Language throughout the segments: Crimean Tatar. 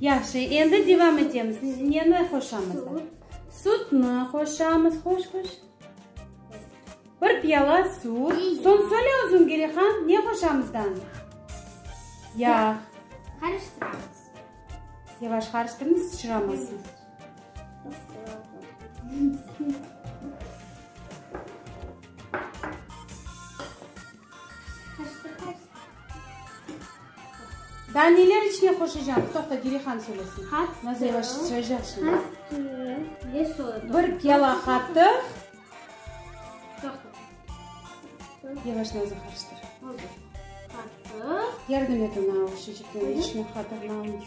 Yahşı, endi devam etemiz. Neni qoşamız? Sutnı qoşamız. Qoş, qoş. Bir piyala sut. Soñ söyle özüñ, Gelihan, ne qoşamız da? Yağ. Qarıştıramız. Yavaş qarıştırmız, sıçramasın. Daa neler içmek hoşlaycam? Toqta, Dirihan söylesin. Nazire baş söyleycek şimdi. Bir kela qatıq. Yavaş nazı qarıştır. Yardım et ona o şişikten içmek qatığını almasın.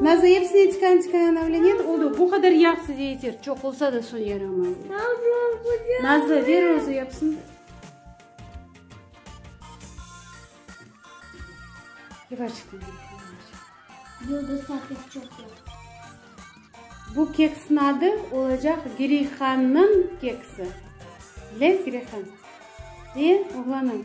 Nazı epsini etikan etikan avlenet oldu bu qadar yahsı de yeter çoq olsa da son yaramay nazı ver özü yapsın bu keksni adı olacaq girihannın keksi bilen girihannın ve oğlanın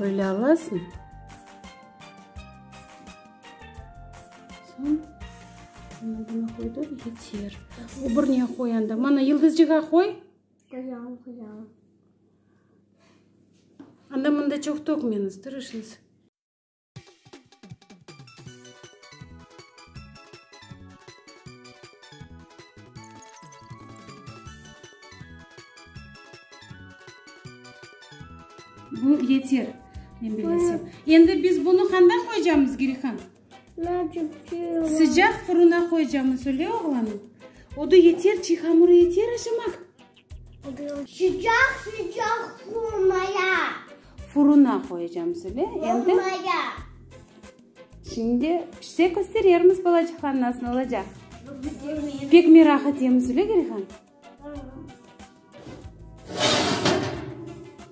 Böyle alasıñ. Soñ mana buna qoyduv, yeter. Öbürine qoy anda. Mana yıldızcığa qoy. Qoyam, qoyam. Anda mında çoq tökmeñiz, tırışıñız. Bu yeter, men bilesem. Endi biz bunı handa qoyacağımız, Girihan? Sıcaq fırına qoyacağımız, öyle oğlanım? Odu yeter, çiy hamurı yeter aşamaq. Sıcaq-sıcaq furmaya. Furuna qoyacağım söyle. Endi. Furmaya. Şimdi pişse kösterermiz balacıqlar nasıl olacaq. Pek merak etemiz öyle Gerihan.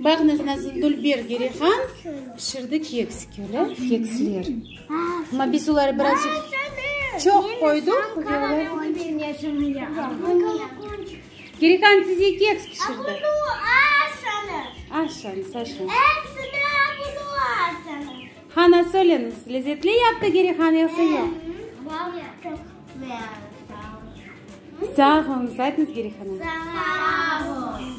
Bağnıñ nazın dülber Gerihan pişirdi keks, köle keksler. Amma biz oları birazcıq çoq qoydıq ve olar. Gerihan size keks pişirdi. Aşañız, aşañız. Hana, söyleñiz, lezetli yaptı Gerihan yoksa yoq? Sağ olunız, aytıñız Gerihana. Sağ olun.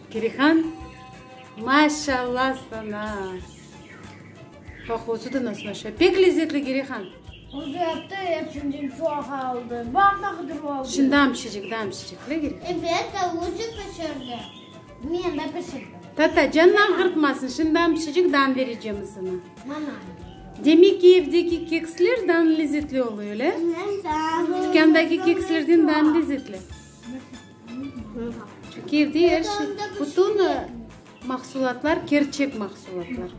Kirihan, maşalla sana! Qoqusı da nasıl aşa, pek lezzetli Kirihan! Özü yaptı, epsinden çoq aldı, bardağıdır oldı. Şi damşıcık, damşıcık, le Kirihan? Evet, avucık pişirdi, men de pişirdim. Tata, canın ağırtmasın, şi damşıcık dan verecem sana. Mana. Demek ki, evdeki keksler dan lezzetli oluyo, le? Hı hı, dan. Tükândaki kekslerden dan lezzetli. Kiyevde er şey, bütün mahsulatlar, kerçek mahsulatlar.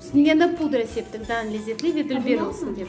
Üstüne yana da pudra septik, daa lezetli ve dülber olsun dep.